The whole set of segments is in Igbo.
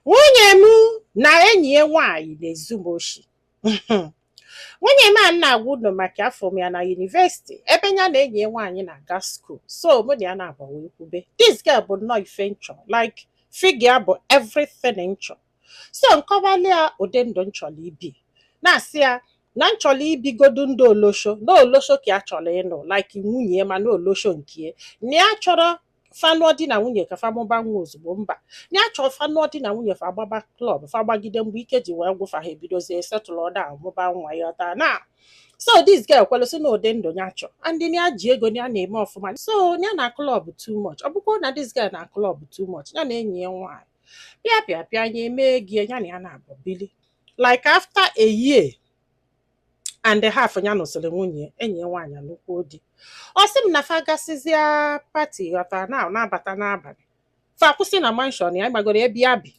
nwunye m na enyi ya nwaanyị na-ezu m oshi nwunye m a na-agwa unu maka afụ m ya na university ebe ya na enyi ya nwaanyị na-aga school so mụ na ya na-agba wee kwube this girl bụ nnọọ ife nchọ like figure bụ everything nchọ so nkọwali ya ụdị ndụ nchọrọ ibi na-asị ya na nchọrọ ibigodu ndụ olosho na olosho ka ya chọrọ ịnụ like nwunye ma na olosho nke ya na ya chọrọ fa nụọ di na nwunye ka fa mụba nwa ozugbo mba ya chọ fa nụọ di na nwunye fa gbaba club fa gbagide mgbe ike ji wee gwụ fa ha ebidozie settle down mụba nwa ịghọta na so this girl kwelu sị na ụdị ndụ ya chọ and ya ji ego ya na-eme ọfụma so ya na-club too much ọ bụkwa na this girl na-club too much ya na enyi ya nwaanyị pịa pịa pịa ya emee gị ya na ya naabọ bili like after a year and half ya nụsịrị nwunye enyi ya nwaanyị anụkwuo di ọ sị m na fa gasịzịa party ghọtara na na-abata n'abalị fa kwụsị na mansion ya gbagoro ebe ya bi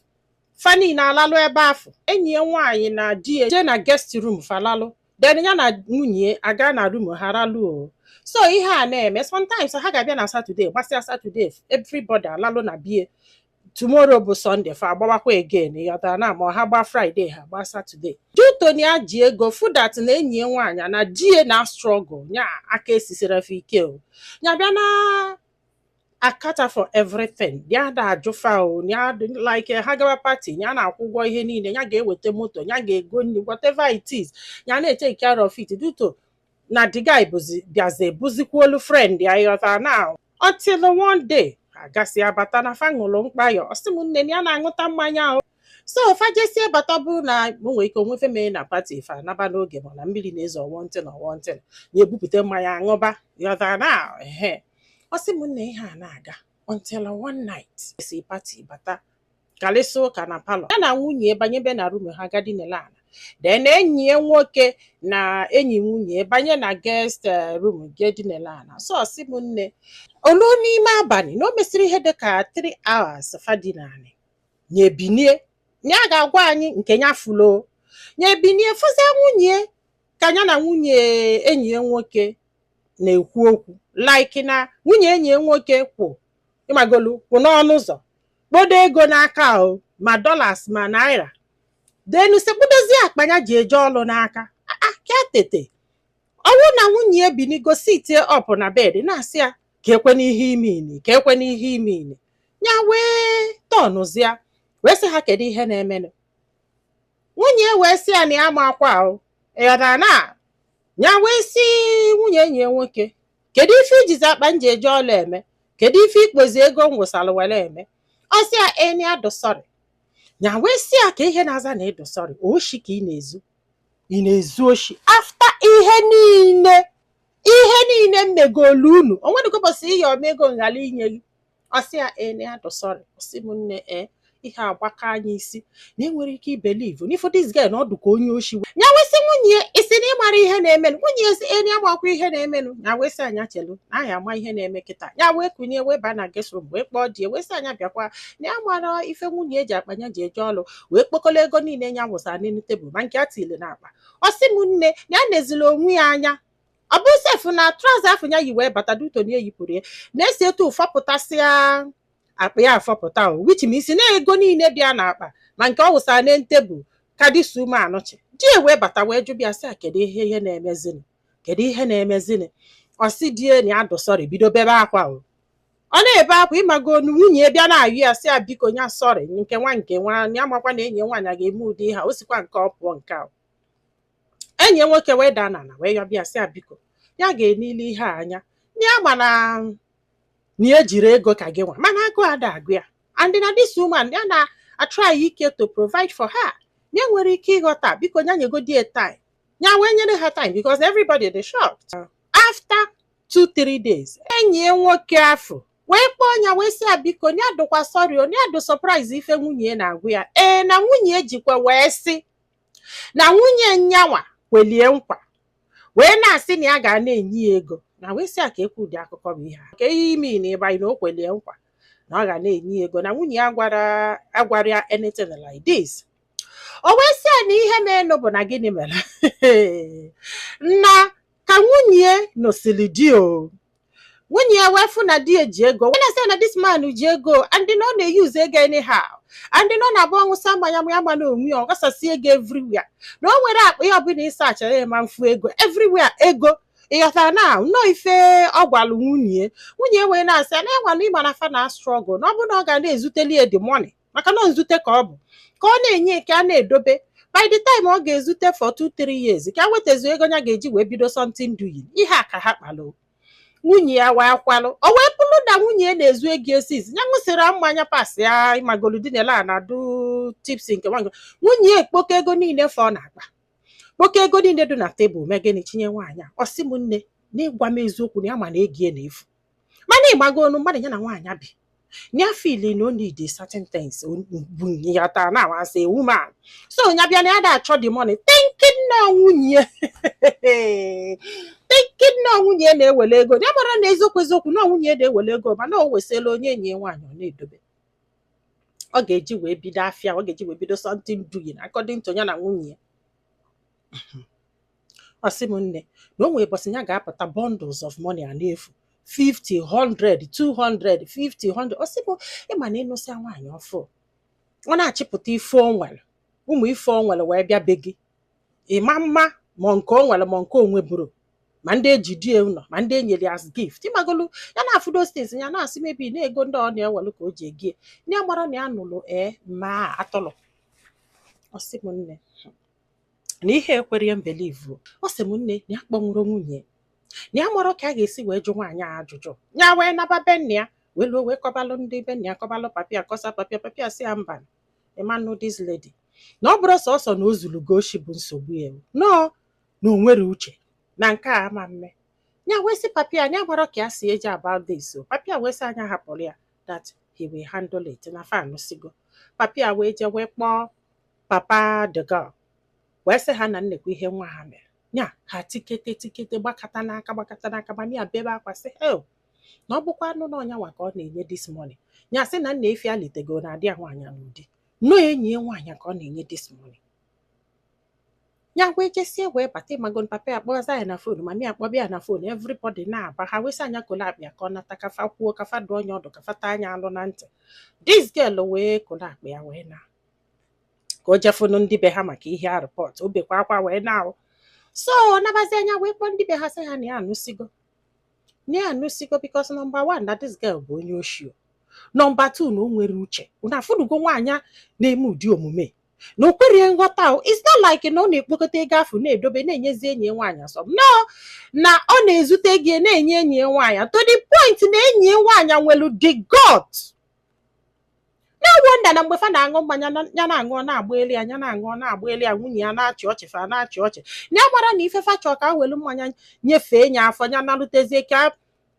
fa niile alalụ ebe afụ enyi ya nwaanyị na di ya jee na guest room fa lalụ then ya na nwunye aga na room ha ralụ o so ihe a na-eme sometimes ha ga-abịa na saturday gbasịa saturday everybody alalụ na be ya tomorrow bụ sunday fa agbawakwa again ịghọtara na ma ha gbaa friday ha gbaa saturday due to na ya ji ego fụ that na enyi ya nwaanyị na di ya na-struggle nya aka esisira fa ike o nya bịa na-cater for everything ya da ajụ fa o ya like ha gawa party ya na-akwụ ụgwọ ihe niile ya ga-eweta moto ya ga-ego nri whatever it is ya na-etake care of it due to na the guy bịazie bụzikwuolu friend ya ịghọtara na until one day a gasịa bata na fa ṅụrụ mkpayọ ọ sị m nne na ya na-aṅụta mmanya o so fa jesịa bata bụ na o nwere ike o nwee ife mere na party fa naba n'oge mana mmiri na-ezo or one thing na one thing ya ebupụta mmanya aṅụba ịghọta na ehe ọ sị m nne ihe a na-aga until one night si party bata karịsịa ụka na parlour ya na nwunye banyebe na room ha ga dinela ala then enyi ya nwoke na enyi nwunye banye na guest eh, room ga dinela ala so ọ sị m nne o lu n'ime abalị na o mesịrị ihe dị ka 3 hours fa dinanị nya ebinie nya ga-agwa anyị nke ya fụlụ nya ebinie fụzie nwunye ka ya na nwunye enyi ya nwoke na-ekwu okwu like na nwunye enyi ya nwoke kwụ ịmagolu kwụ n'ọnụ ụzọ kpodo ego n'aka o ma dollars ma naira then sekpudozie akpa ya ji eje ọlụ n'aka ya ka tete ọ wụ na nwunye ya binigo sitie up na bed na-asị ya kee kwanụ ihe i meni kee kwanụ ihe i meni ya wee turnzia wee sị ha kedu ihe na-emenụ nwunye ya wee sị ya na ya amakwa o ịghọtara na ya wee sị nwunye enyi ya nwoke kedu ife i jizi akpa m ji eje ọlụ eme kedu ife i kpozi ego m wụsara were eme ọ sị ya na ya dụ sorry ya wee sị ya ka ihe na-aza na ị dụ sorry oshi ka ị na-ezu ị na-ezu oshi after ihe niile ihe niile m megolu unu o nwedịgo ụbọsị ị yọọ m ego m ghara inye gị ọ sị ya ee na ya dụ sorry ọ sị m nne ee ihe agbaka nya isi na i nwere ike ibelieve n'ị fụ this girl na ọ dụ ka onye oshi nya wee sị nwunye ya i sị na ị mara ihe na-emenụ nwunye ya asị na ya amakwa ihe na-emenụ ya wee sị ya nya chelu na anyị ama ihe na-eme kịta ya wee kunie wee ba na guest room wee kpọọ di ya wee sị ya nya bịakwa na ya amarọ ife nwunye ya ji akpa ya ji eje ọlụ wee kpokọlụ ego niile ya wụsara n'elu tebụl ma nke e tili na akpa ọ sị m nne na ya nezila onwe ya anya ọ bụ sef na trouser afụ ya yi wee bata due to na e yipụrụ ya na-esi etu ọ fọpụtasịa akpa ya afọpụta o which means na ego niile bịa n'akpa ma nke ọ wụsara na tebụl kadịsi ume anọchi di ya wee bata wee jụba ya sị ya kedu ihe ihe na-emezini kedu ihe na-emezini ọ sị di ya na ya dụ sorry bido bebe akwa o ọ na-ebe akwa ị magonu nwunye ya bịa na-ayọ ya sị ya biko nya sorry nke nwa nke nwa ya amakwa na enyi ya nwaanyị a ga-eme ụdị ihe a o sikwa nke ọ pụọ nke a enyi nwoke wee daa n'ala wee yọba ya sị ya biko ya ga-enile ihe a anya ya ma na na ya jiri ego ka gị nwa mana agụụ ada agụ ya and na this woman ya na-atry ike to provide for her ya nwere ike ịghọta biko ya nyegodi ya time ya wee nyere ha time because everybody dị shocked after two three days enyi ya nwoke afụ wee kpọọ ya wee sị ya biko ya dụkwa sorry o ya dụ surprise ife nwunye ya na-agwa ya ee na nwunye ya jikwa wee sị na nwunye nyanwa kwelie nkwa wee na-asị na ya ga na-enye ya ego nya wee sị ya keekwụ ụdị akụkọ bụ ihe a kee ihe i mean by na o kwelie nkwa na ọ ga na-enye ya ego na nwunye ya agwarọ ya anything like this o wee sị ya na ihe menụ bụ na gịnị mere na ka nwunye nesili di o nwunye ya wee fụ na di ya ji ego wee na-asị na this man ji ego and na ọ na-euse ego anyhow and na ọ na-abụ ọ ṅụsịa mmanya ya amana onwe ya ọ ghasasị ego everywhere na o nwerọ akpa ya ọbụla ị searchara ya ma ị fụ ego everywhere ego ị ghọtara na nnọọ ife ọ gwalụ nwunye nwunye wee na-asị ya na nwanne ị ma na fa na-struggle na ọ bụrụ na ọ ga na-ezuteli ya the money maka na nzute ka ọ bụ ka ọ na-enye ka a na-edobe by the time ọ ga-ezute for two three years ka ya wetazuo ego ya ga-eji wee bido something doing ihe a ka ha kpalụ nwunye ya wee kwelu o wee bụrụ na nwunye ya na-ezu ego esizi ya ṅụsịrị mmanya pass ya ị mago dinelụ na-adụ tipsy nke nwaanyị nwunye ya ekpokọ ego niile fọ n'akpa kpokọ ego niile dị na tebụl mee gịnị chinye nwaanyị a ọ sị m nne na ya gwa m eziokwu na ya ma na ego ya na-efu mana ịmagonu mmadụ ya na nwaanyị bi ya feel na o need certain things bụ ya taa na as a woman so ya bịa na ya ada achọ the money thinking na nwunye thinking na nwunye na-ewele ego ya amarọ na eziokwu eziokwu na nwunye na-ewele ego mana o wesịla o nye enyi ya nwaanyị ọ na-edobe ọ ga-eji wee bido afịa ọ ga-eji wee bido something doing according to ya na nwunye ya ọ sị m nne na o nwere ụbọchị ya ga-apụta bundles of money a na-efu 50 100 200 50 100 ọ sị m ịma na ị nụsịa nwaanyị ọfụụ ọ na-achịpụta ife o nwere ụmụ ife o nwere wee bịa be gị ịma mma ma nke o nwere ma nke o nweburu ma ndị e ji die ụlọ ma ndị e nyere as gift ịmagolu ya na-afụ those things ya na-asị maybe na ego ndị ọ na-ewelu ka o ji ego ihe ndị a amarọ na ya nụrụ ee ma atọlọ ọ sị m nne na ihe ekwerọ ya mbelieve ọ sị m nne na ya kpọnwụrụ nwunye na ya amarọ ka a ga-esi wee jụ nwaanyị a ajụjụ ya wee naba be nna ya wee luo wee kọbalụ ndị be nna ya kọbalụ papa ya kọsa papa ya papa ya sị ya mba ịmanụ this lady na ọ bụrọ sọsọ na o zuru gị oshi bụ nsogbu ya no na o nwerọ uche na nke a ama mme ya wee sị papa ya na ya amarọ ka ya si eje about this so papa ya wee sị ya nya hapụrụ ya that he will handle it na fa anụsigo papa ya wee jee wee kpọọ papa the girl wee sị ha na nnekwu ihe nwa ha mere nya ha tikete tikete gbakọta n'aka gbakọta n'aka mama ya bebe akwa sị hei na ọ bụkwanụ na ọ nyanwa ka ọ na-enye this money nya sị na nna efi alitego na adị ya nwaanyị a n'ụdị na ọ enyi ya nwaanyị ka ọ na-enye this money ya wee jesie wee bata ịmagonu papa ya kpọsa ya na phone mama ya akpọba ya na phone everybody na-aba ha wee sị ya nya kolo akpa ya ka ọ nata ka fa kwuo ka fa dụọ nya ọdụ ka fa taa nya alụ na ntị this girl wee kolo akpa ya wee na ka o je fụnụ ndị be ha maka ihe a report o bekwa akwa wee na-awụ so nabazie nya wee kpọọ ndị be ha sị ha na ya anụsigo na ya anụsigo because number one na this girl bụ onye oshi number two na o nwerọ uche na afụnugo nwaanyị na-eme ụdị omume na o kwerọ nghọta o it's not like na ọ na-ekpokọta ego afụ na-edobe na-enyezi enyi ya nwaanyị asọ no na ọ na-ezute gị na-enye enyi ya nwaanyị to the point na enyi ya nwaanyị nwere the gut no wonder na mgbe fa na-aṅụ mmanya na- ya na-aṅụ ọ na-agbanyelu ya ya na-aṅụ ọ na-agbanyelu ya nwunye ya na-achị ọchị fa na-achị ọchị ya amarọ na ife fa chọọ ka a welu mmanya nyefee ya afọ ya nalụtezie ka ya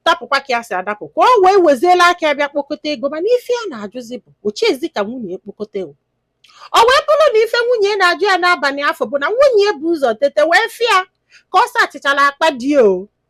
dapụkwa ka ya si adapụ ka o wee weziela aka ya bịa kpokọta ego mana ife ya na-ajụzi bụ ochezi ka nwunye ekpokọta ego o wee bụrụ na ife nwunye na-ajụ ya n'abalị afụ bụ na nwunye bu ụzọ tete wee fịa ka ọ sachichala akpa di o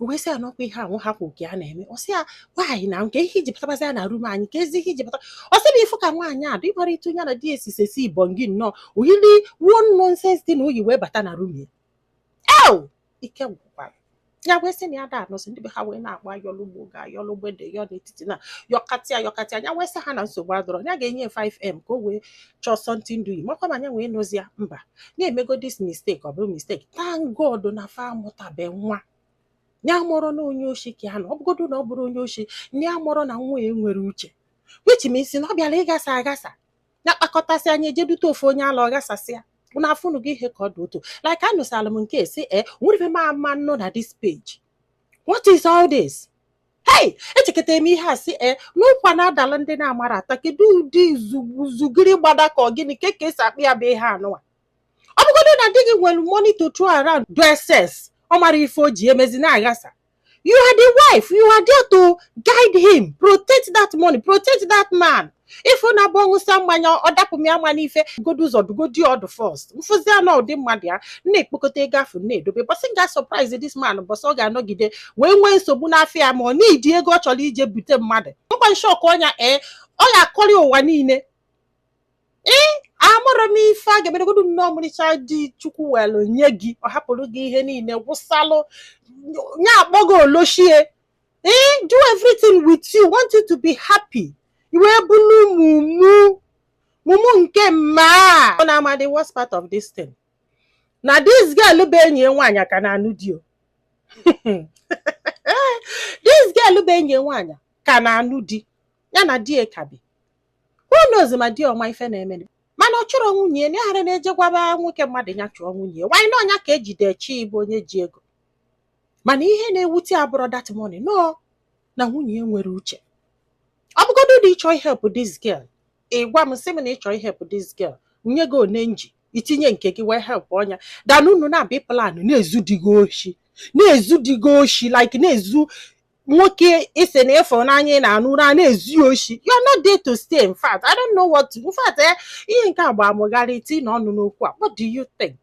wee sị ya na ọ kwa ihe ahụ ha kwụ ka a na-eme ọ sị ya nwaanyị na kee ihe i ji kpọbatazi ya na rum anyị kezi ihe i ji kpọbata ọ sị na ị fụ ka nwaanyị a dị ị mara etu ya na di esi sesi ibon gị nnọọ o yili one nonsense thing o yi wee bata na rum ya ew ike gwụkwara ya wee sị na ya da anọsị ndị be ha wee na-agba yọlụgbo ga yọ na mgbede yọ n'etiti na yọkatịa yọkatịa ya wee sị ha na nsogbu adịrọ ya ga-enye 5m ka o wee chọọ something do ị makwa ma nya wee nụzi ya mba na e mego this mistake ọ bụrụ mistake thank God na fa amụtabe nwa ya amarọ na onye oshi ka ya na ọ bụgodu na ọ bụrọ onye oshi ya amarọ na nwaanyị a enwerọ uche which means na ọ bịara ịgasa agasa na kpakọtasịa nya ejedute ofu onye ala ọ gasasịa na afụnụ gị ihe ka ọ dị otu like anụsala m nke si e nwere ife ma ama nọ na this page what is all this hei echekatara m ihe a sị e n'ụkwa na-adala ndị na-amarọ ata kedu ụdị zugiri gbada ka ọ gịnị kee ka e si akpọ ya bụ ihe anụwa ọ bụgodu na di gị nwere money to throw around do excess ọ marọ ife o ji emezi na-aghasa you are the wife you are there to guide him protect that money protect that man ị fụ na ọ bụ ọ ṅụsịa mmanya ọ dapụ m ya ma n'ife godo ụzọ dụgodi ọdụ first m fụzia na ọ ụdị mmadụ ya na-ekpokọta ego afụ na-edobe bọsị m ga-asurprise this man bọsị ọ ga-anọgide wee nwee nsogbu n'afịa ya ma ọ needi ego ọ chọrọ ije bute mmadụ mkpa m shock ọnya ee ọ ga-akọrị ụwa niile ee amarọ m ife a ga-emeregodu nee ọmarịcha di Chukwu welu nye gị ọ hapụrụ gị ihe niile wụsalụ ya akpọgo oloshie eh do everything with you want you to be happy i wee bụrụ mumu mumu nke mma ọ na-ama the worst part of this thing na this girl bụ enyi ya nwaanyị ka na-anụ di o this girl bụ enyi ya nwaanyị ka na-anụ di ya na di ya ka bi who knows ma di ya ọ ma ife na-eme mana ọ chọrọ nwunye ya na-aghara na-eje gwaba nwoke mmadụ ya chụọ nwunye ya why na ọnya ka ejide chi ịbụ onye ji ego mana ihe na-ewute ya abụrọ that money no na nwunye ya enwerọ uche ọ bụgodu na ị chọ help this girl ị gwa m sị m na ị chọ help this girl o nye gị one m gị tinye nke gị wee help ọnya than unu na-abịa plan na-ezu di gị oshi na-ezu di gị oshi like na-ezu nwoke ị sị na ị fụ n'anya ị na-anụ ụra na-ezu ya oshi you're not there to stay in fact I don't know what to in fact eh, ihe nke a agbaa m gharịị tinye ọnụ n'okwu a what do you think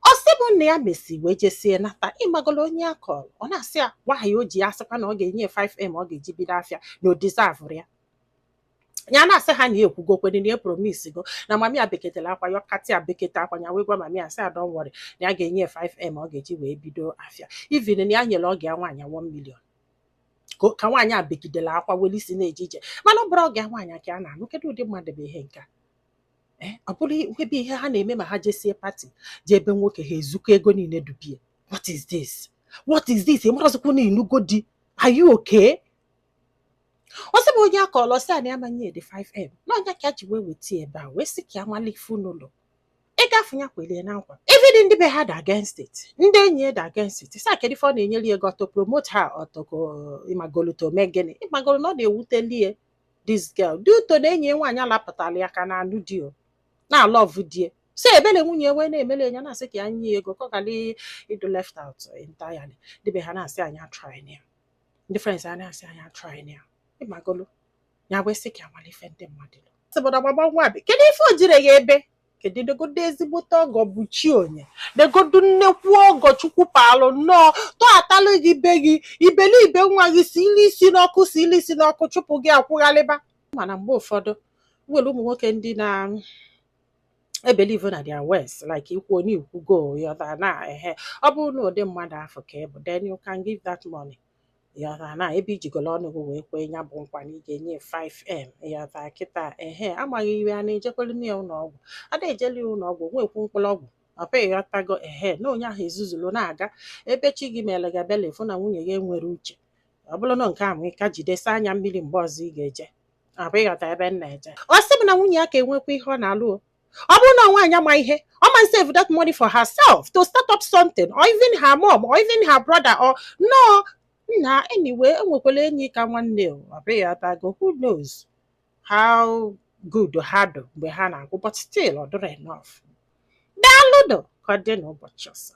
ọ sị bụ na ya mesịa wee jesie nata ị magolo onye ya kọrọ ọ na-asị ya nwaanyị o ji ya asịkwa na ọ ga-enye 5m ọ ga-eji bido afịa na ọ deserverọ ya ya na-asị ha na ya ekwugokwere na ya epromisego na mami ya bekatala akwa yọkata ya bekata akwa ya wee gwa mami ya sị ya don't worry na ya ga-enye 5m ọ ga-eji wee bido afịa even na ya nyere ọgọ ya nwaanyị 1 million ka ka nwaanyị a begidela akwa weli isi na-eje ije mana ọ bụrọ ọgọ ya nwaanyị ka ya na-anụ kedu ụdị mmadụ bụ ihe nke a Eh, ọ bụrụ ebe ihe ha na-eme ma ha jesie pati jee be nwoke ha ezukọ ego niile dubie what is this what is this ịmarazikwu na ịnụgo di are you okay ọ sị bụ onye a kọlọ sị na a ma-enye di 5m na ọ nya ka e ji wee weta ebe a wee sị ka a malụ ife n'ụlọ ị ga-afụ nya kwelie na nkwa even ndị be ha dị against it ndị enyi ya dị against it sị a kedu ife ọ na-enyere ya ego to promote ha ọtọko ịmagolo to mee gịnị ịmagolo na ọ na-ewuteli e this girl dị ụtọ na enyi ya nwaanyị alapụtala ya ka na-anụ di o na-alọvụ di ya so ebele nwunye ya wee na-emele ya na-asị ka ya nye ya ego ka ọ ghara ịdụ left out entirely ndị be ha na-asị nya atryna ya ndị friends ya na-asị nya atryna ya ịmagolo ya wee sị ka ya mara ife ndị mmadụ lụ sị bụ na gbagba nwa bi kedu ife o jire ya ebe kedu negodu ezigbote ọgọ bụ chi onye negodu nnekwu ọgọ chukwu paalụ nnọọ tọghatalụ gị be gị iberibe nwa gị si ili isi n'ọkụ si ili isi n'ọkụ chụpụ gị akwụghalịba mana mgbe ụfọdụ nwere ụmụ nwoke ndị na-ebelieve na their words like i kwuo na i kwugo ịghọta na ehe ọ bụrụ na ụdị mmadụ afụ ka ị bụ then you can give that money ịghọta na ebe i jigolo ọnụ gị wee kwee ya bụ nkwa na ị ga-enye 5m ịghọta kịta ehe amaghị ihe a na-ejekwere na ya ụlọ ọgwụ ada ejeli ya ụlọ ọgwụ nwekwu mkpụrụ ọgwụ ọ bụ ịghọtago ehe na onye ahụ ezuzuru na-aga ebe chi gị mere gị ebele afụ na nwunye gị enwerọ uche ọ bụrụ na nke ahụ ị ka jidesi anya mmiri mgbe ọzọ ị ga-eje ọ bụ ịghọta ebe m na-eje ọ sị bụ na nwunye ya aka enwekwa ihe ọ na-alụ o ọ bụrụ na nwaanyị ma ihe ọ ma save that money for herself to start up something or even her mom or even her brother or no nna anyway enwekwala enyi ka nwanne ọ bụ ịghọtago who knows how good ha dụ mgbe ha na-agwụ but still ọ dịrọ enough daalụ nụ ka ọ dị n'ụbọchị ọzọ